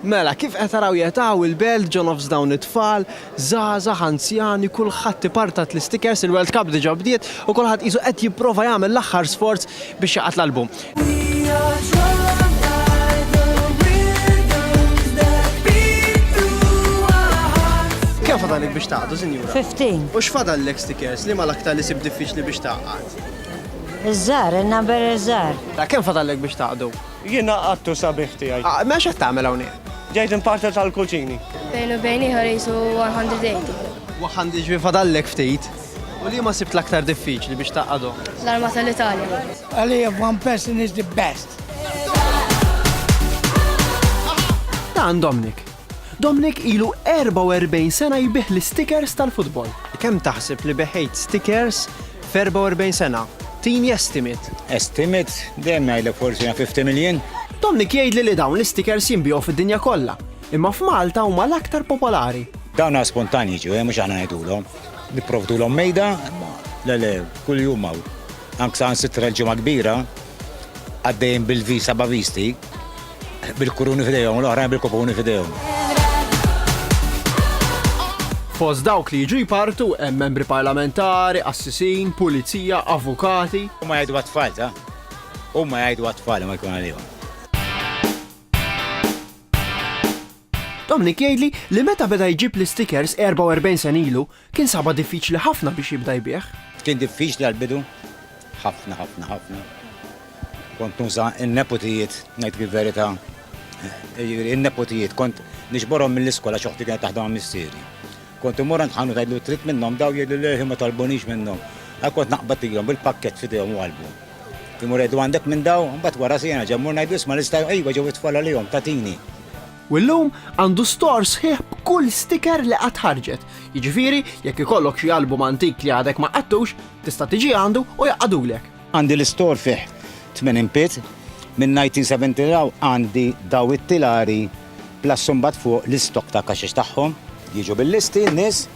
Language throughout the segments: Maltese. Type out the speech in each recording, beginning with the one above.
Mela, kif qed taraw qiegħed hawn il-belt ġo nofs dawn it-tfal, żgħażagħ, anzjani, kulħadd ipartat l-istikers, il-World Cup diġà bdiet u kulħadd qisu qed jipprova jagħmel l-aħħar sforz biex jaqgħad l-album. Kemm fadallek biex taqgħdu, sinjura? Fifteen. U x'fadallek stikers? Liema l-aktar li sib diffiċli biex taqgħad? Iż-żgħar, in-number iż-żgħar. Ta' kemm fadallek biex taqgħdu? Jiena għattu sabiħ tiegħi. Mela x'qed tagħmel hawnhekk? Ġejt imparter tal-kuċini. Bejn u bejn ieħor qisu 180. 100 ġifieri fadallek ftit. U liema sibt l-aktar diffiċli biex tgħaqqadhom? L-arma tal-Italja. Għalija one person is the best. Dan Dominic, Domnic ilu 44 sena jbigħ l-istikers tal-futbol. Kemm taħseb li beħejt stikers f'44 sena? Tini estimate. Estimate? Dejjem ngħidlek forsi naf 50 miljun. Domnic jgħidli li dawn l-istikers jinbiegħu fid-dinja kollha, imma f'Malta huma l-aktar popolari. Dawn għas spontanji jiġu, eh, mhux aħna ngħidulhom. Nipprovdulhom mejda, imma le le, kuljum hawn. Anke saħansitra l-Ġimgħa Kbira għaddejjin bil-visa bavisti. Bil-kuruni f'idejhom u l-oħrajn bil-kupuni f'idejhom. Fost dawk li jiġu jpartu hemm membri parlamentari, qassisin, pulizija, avukati. Huma jgħidu għat-tfal, ta? Huma jgħidu għat-tfal imma jkun għalihom. Dominic jgħidli li meta beda jġib l-istikers 44 sena ilu, kien sabha diffiċli ħafna biex jibda jbigħ. Kien diffiċli għall-bidu, ħafna ħafna ħafna. Kont nuża n-neputijiet, ngħidlek il-verità, jiġifieri n-neputijiet kont niġborhom mill-iskola għax oħti kienet taħdem għal missieri. Kont immur għand ħanut ngħidlu trid minnhom dawn jgħidlu le ħin ma talbunix minnhom. Għalhekk kont naqbadilhom bil-pakkett f'idejhom u qalbu. Imur ngħidlu għandek minn dawn? Imbagħad wara siegħa nerġa' mmur ngħidlu isma' nista' iva ġew it-tfal għalihom tagħtini. U llum għandu store sħiħ b'kull sticker li qatt ħarġet. Jiġifieri jekk ikollok xi album antik li għadek ma qattux, tista' tiġi għandu u jgħaqqadulek. Għandi l-istor fih tmenin pit, minn 1970 'l għandi daw it-tilari plus imbagħad fuq l-istock ta' kaxex tagħhom. Jiġu bil-listi n-nies,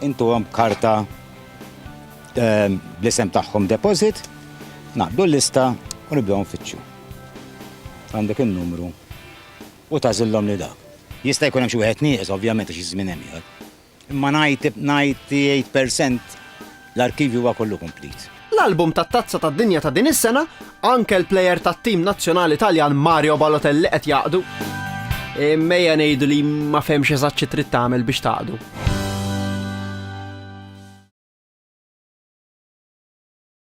intuhom karta bl-isem tagħhom deposit, ngħaqqdu l-lista u nibdew nfittxu. Għandek in-numru u tagħżilhom lil dak. Jista' jkun hemm xi wieħed nieqes ovvjament għax iż-żmien hemm ieħor. Imma 98 per cent l-arkivju huwa kollu komplit. L-album tat-Tazza tad-Dinja ta' din is-sena, anke l-plejer tat-tim nazzjonali Taljan Mario Balotelli qed jaqdu. Imma ejja ngħidu li ma fehmx eżatt xi trid tagħmel biex taqdu.